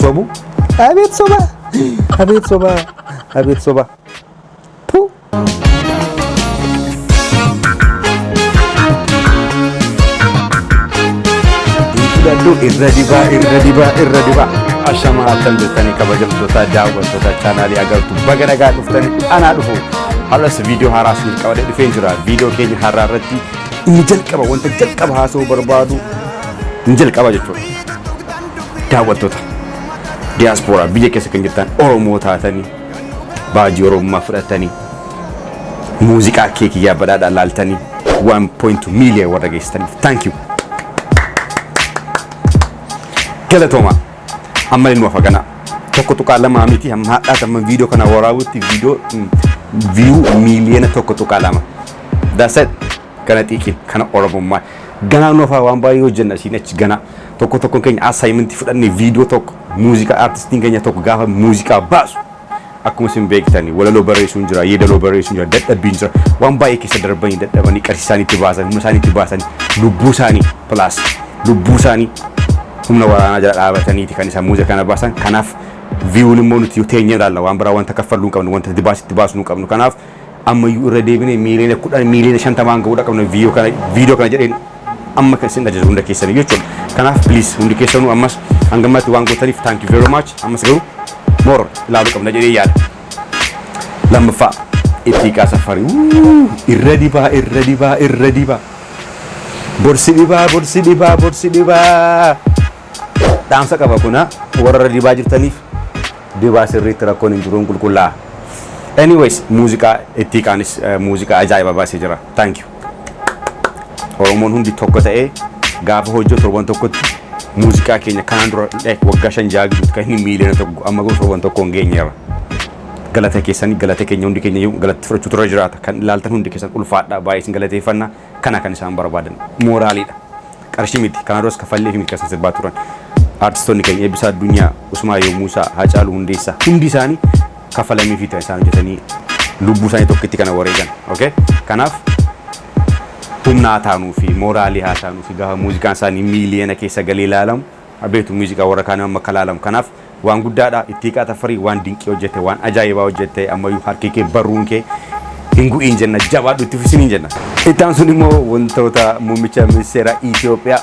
sobu abeet soba abeet soba abeet soba tu Dadhu irra dibaa irra dibaa irra dibaa ashamaa akkam jirtanii kabajamtoota daawwattoota chaanaalii agartu baga nagaa dhuftanii anaa dhufu har'as viidiyoo haaraa isiniif qabadee dhufeen jira viidiyoo keenya haaraa irratti inni jalqaba wanta jalqaba haasa'uu barbaadu hin jalqaba jechuudha daawwattoota diyaaspooraa biyya keessa kan jirtan Oromoo taatanii baajii Oromummaa fudhattanii muuziqaa kee kiyyaa badhaadhaa laaltanii 1.2 miiliyoon warra geessitaniif thank you galatoomaa amma ilmoo faganaa tokko tuqaa lamaa miti amma hadhaat amma viidiyoo kana waraabutti viidiyoo viiyuu miiliyoona tokko tuqaa lama that's it Gana xiiqiin kana oromummaa ganaa nuuf haa waan baay'ee hojjenna asiin achi ganaa tokko tokkoon keenya assignment fudhannee viidiyoo tokko muuziqaa artistiin keenya tokko gaafa muuziqaa baasu akkuma isin beektani walaloo barreessuun jira yeedaloo barreessuun jira dadhabbiin jira waan baay'ee keessa darbanii dadhabanii qarshii isaanii itti baasan humna isaanii itti baasan lubbuu isaanii plus lubbuu isaanii humna waraanaa jala dhaabataniiti kan isaan muuziqaa kana baasan kanaaf viiwuun immoo nuti yoo teenyee ilaalla waan biraa wanta kaffalluu hin qabnu wanta itti baasnu hin qabnu kanaaf Ammayyuu irra deebinee miiliyoona 10, miiliyoona 50 hanga godha qabna viiyoo kana viidiyoo kana jedheen amma kan isin dhageessisu hunda keessanii jechuudha. Kanaaf please hundi keessanuu ammas hanga ammaatti waan gootaniif thank you very much ammas garuu more ilaaluu qabna jedhee yaada. Lammaffaa Ittiiqaa Saffari wuu irra dibaa irra dibaa irra dibaa bor si dhibaa bor si dhibaa bor si dhibaa. Dhaamsa qaba kuna warra irra dibaa jirtaniif dibaa sirriitti rakkoon hin jiruun qulqullaa'a. Anyways muuziqaa ittii kaanis eh, muuziqaa ajaa'iba baasee jira. Thank you. Oromoon hundi tokko ta'ee gaafa hojjetu torban tokkotti muuziqaa keenya kanaan dura like waggaa shan ja'a gidduutti kan inni miiliyoona tokko amma garuu torban tokkoon geenyeerra. Galata keessanii galata keenya hundi keenya iyyuu galatti fudhachuu turre jiraata. Kan ilaaltan hundi keessan ulfaadhaa baay'ee isin galateeffanna. Kana kan isaan barbaadan mooraaliidha. Qarshii miti. Kanaa duras kaffalleefi miti kan isaan sirbaa turan. Artistoonni keenya Eebbisaa Addunyaa, Usmaayoo Muusaa, Haacaaluu Hundeessaa hundi isaanii kaffalamiifiiti kan isaan hojjetanii lubbuu isaanii tokkitti kana wareegan. Okay? Kanaaf humna haa taanuufi, mooraalii haa taanuufi gaafa muuziqaan isaanii miiliyoona keessa galee ilaalamu Abeetu muuziqaa warra kaanii amma akka laalamu kanaaf waan guddaadha Ittiiqaa Tafarii waan dinqii hojjette waan ajaa'ibaa hojjette ammayyuu harki kee barruun kee hin gu'iin jenna jabaadhu itti fufi siniin jenna. Itti aansuun immoo wantoota muummicha ministeera Itoophiyaa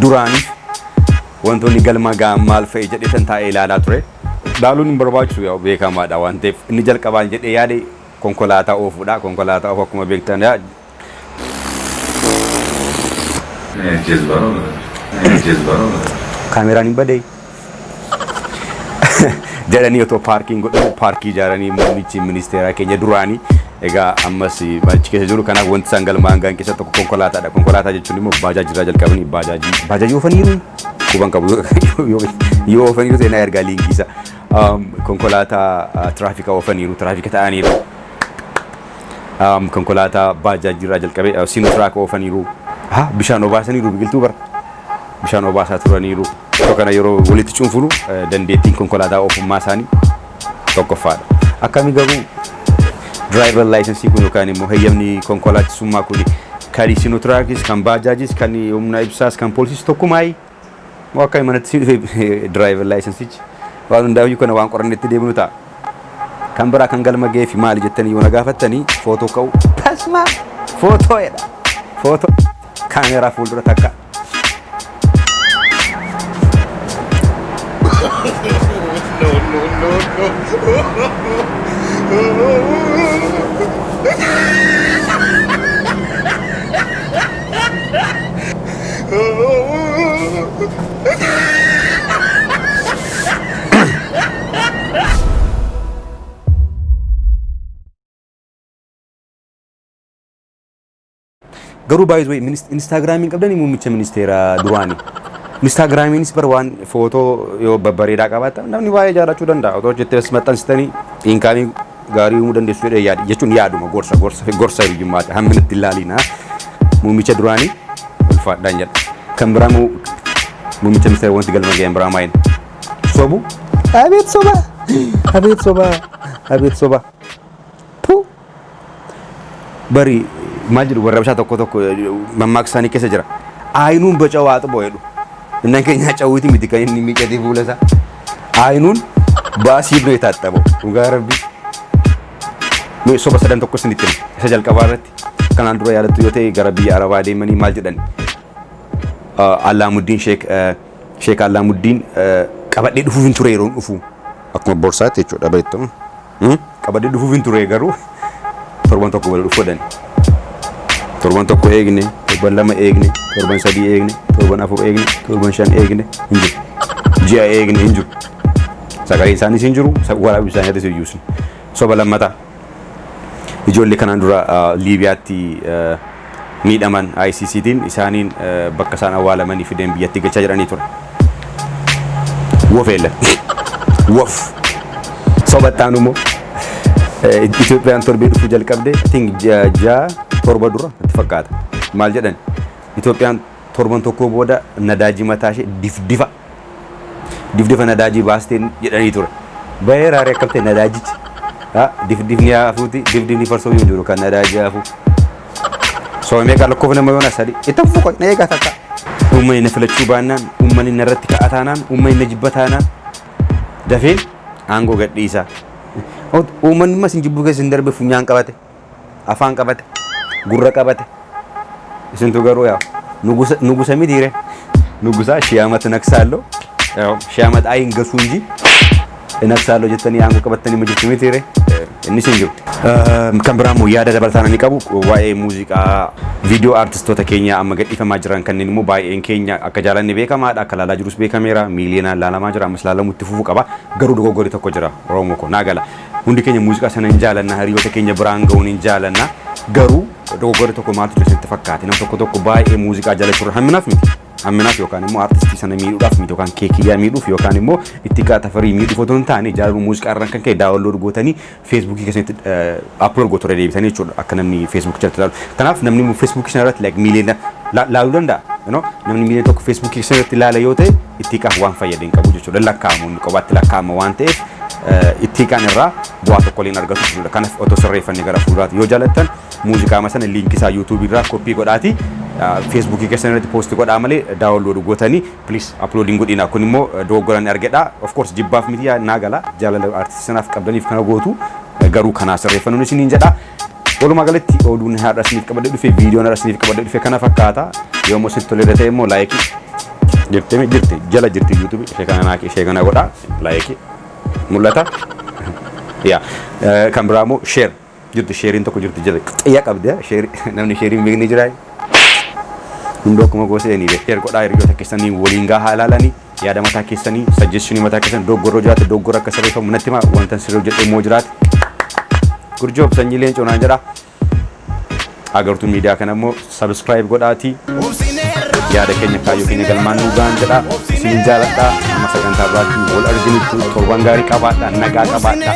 duraaniif wantoonni galma ga'an maal fa'i jedheetan taa'ee ilaalaa ture. Ilaaluun hin barbaachisu yaa'u beekamaadha waan ta'eef inni jalqabaan jedhee yaade konkolaataa oofuudha konkolaataa oofu akkuma beektan Kaameraan hin badee. jedhanii otoo paarkiin godhamu paarkii ijaaranii muummichi ministeeraa keenya duraanii egaa ammas achi keessa jiru kanaaf wanti isaan galma hangaan keessa tokko konkolaataadha konkolaataa jechuun immoo baajaajii irraa jalqabanii baajaajii baajaajii oofaniiru quban qabu yoo oofaniiru ta'e naa ergaa liinkiisa konkolaataa tiraafikaa oofaniiru tiraafika ta'aniiru um, konkolaataa baajaajirraa jalqabee uh, siinotraak oofaniiru ha bishaan obaasaniiru biqiltuu bara bishaan obaasaa turaniiru so kana yeroo walitti cuunfunu uh, dandeettiin konkolaataa oofummaa isaanii tokkoffaadha akkami garuu diraayivar laayisensii kun yookaan immoo heyyamni konkolaachisummaa kun kan siinotraakis kan baajaajis kan humna ibsaas kan poolisiis tokkumaayii Moo akka manatti si dhufe diraayivar laayisansichi waan hundaayyuu kana waan qorannetti deebinu ta'a. Kan biraa kan galma ga'eefi maali jettanii yoo na gaafattanii footoo ka'uu tasmaa footoo jedha footoo kaameeraa fuuldura takka Garuu baay'ee way Instaagiraamiin qabdanii muummicha ministeeraa duraanii. Instaagiraamiinis bar waan footoo yoo babbareedaa qabaatan namni baay'ee jaalachuu danda'a. Otoo hojjettee as maxxansitanii inkaamii gaarii uumuu dandeessu jedhee yaada jechuun yaaduma gorsa gorsa gorsa hiriyyummaati hamminatti hin laaliina muummicha duraanii ulfaadhaan jedha. Kan biraa immoo muummicha ministeera wanti galma ga'een biraa maayini sobu abeet soba abeet soba abeet soba puu bari maal jedhu warra bishaa tokko tokko mammaaksa isaanii keessa jira aayinuun baca'u haa xuboo jedhu innan keenyaa cawwiiti miti kan inni miicatii fuula isaa. Aynuun baasii bira yetaxxabau dhugaa rabbi mee soba sadan tokko isinitti hima isa jalqabaa irratti kanaan dura yaadattu yoo ta'e gara biyya arabaa deemanii maal jedhan Allaamuddiin sheek sheek Allaamuddiin qabadhee dhufuuf hin ture yeroon dhufu akkuma borsaatti jechuudha beektu Qabadhee dhufuufin ture garuu torban tokko booda dhufu jedhani. Torban tokko eegne, torban lama eegne, torban sadii eegne, torban afur eegne, torban shan eegne hin jiru. Ji'a eegne hin jiru. Sagaleen isaaniis hin jiru, waraabni bishaan irratti hin yuusne. Soba lammataa. Ijoollee kanaan dura Liibiyaatti miidhaman ICC tiin isaaniin bakka isaan awwaalamanii fideen biyyattii galchaa jedhanii ture. Wof Elan. Wof. Soba itti aanu immoo Itoophiyaan torbee dhufuu jalqabde I think ji'a ja'a torba dura natti fakkaata. Maal jedhani? Itoophiyaan torban tokkoo booda nadaajii mataa ishee difdifa. Difdifa nadaajii baasteen jedhanii ture. Bahee raaree akkam ta'e nadaajichi. Difdifni haafuuti difdifni farsoo yoo jiru kan nadaajii haafuu. Soo meeqa lakkoofne amma yoona sadii. Ittan fuqa na eegaa takka. Uummanni na filachuu baannaan, uummanni na irratti ka'a taanaan, uummanni na jibba taanaan dafeen aangoo gadhiisa. Uummanni immoo isin jibbuu keessa hin darbe funyaan qabate. afaan qabate gurra qabate isintu garuu yaa nugusa nugusa mitiire nugusaa shii amat naksaallo yaa shii amat ayin gasuu inji naksaallo jettanii aangoo qabattanii ma jirtu mitiire innis hin jiru. Eh, Kan biraa immoo yaada dabalataan ani qabu waa'ee muuziqaa viidiyoo aartistoota keenya amma gadhiifamaa jiran kanneen immoo baay'een keenya akka jaalanne beekamaadha akka laalaa jirus beekameera miiliyoonaan laalamaa jira ammas laalamutti fufuu qaba garuu dogoggorri tokko jira Oromoo koo naa gala Hundi keenya muuziqaa sana hin jaalanna, hiriyoota keenya biraan ga'uu ni jaalanna. Garuu dogoggorri tokko maaltu jira isinitti fakkaate? Namni tokko tokko baay'ee muuziqaa jaalachuurra hamminaaf miti. Hamminaaf yookaan immoo artistii sana miidhuudhaaf miti yookaan keekiyyaa miidhuuf yookaan immoo ittiqaa tafarii miidhuuf otoo hin taane jaalaluu muuziqaa irraan kan ka'e daawunlood gootanii feesbuukii keessanitti aplood gootu irra deebitanii jechuudha akka namni feesbuukii jalatti ilaalu. Kanaaf namni feesbuukii sana irratti like miiliyoona laaluu danda'a. Namni miiliyoona tokko feesbuukii keessan irratti ilaala yoo ta'e itti hiikaaf waan fayyade hin qabu jechuudha. Hin lakkaa'amu inni qobaatti lakkaa'ama waan ta'eef itti hiikaan irraa bu'aa tokko illee hin argatu jechuudha. Kanaf otoo sirreeffanne gara fuulduraati. Yoo jaalattan muuziqaama sana liinkii isaa YouTube irraa koppii godhaati Facebook keessan irratti post godhaa malee download gootanii please upload hin godhina. Kun immoo dogoggoraan argedha. Of course jibbaaf miti naa gala jaalala artistii sanaaf qabdaniif kana gootu garuu kanaa sirreeffannuun isiniin jedha. Walumaa galatti oduun har'a isiniif qabadhee dhufe viidiyoon har'a isiniif qabadhee dhufe kana fakkaata. Yoo immoo isinitti toleera ta'e immoo laayikii jirti mi jirti jala jirti yuutuubii ishee kana naaki ishee kana godhaa laayikii mul'ata. Yaa kan biraa immoo sheer jirti sheeriin tokko jirti jala xiyya qabdi sheerii namni sheeriin beekni jiraa. Hundoo akkuma goosee ni beekteer godhaa hiriyoota keessanii waliin gahaa ilaalanii. Yaada mataa keessanii, suggestion mataa keessan doggorri yoo jiraate doggorri akka sirreeffamu natti himaa. Wantan sirrii hojjedhe immoo jiraate. Good job sanyii leencoo naan jedha. Agartuu miidiyaa kana immoo subscribe godhaati. Yaada keenya kaayyoo keenya galmaan nuu ga'an jedha. Isin jaaladha. Amma sagantaa biraatti wal arginutti torban gaarii qabaadha. Nagaa qabaadha.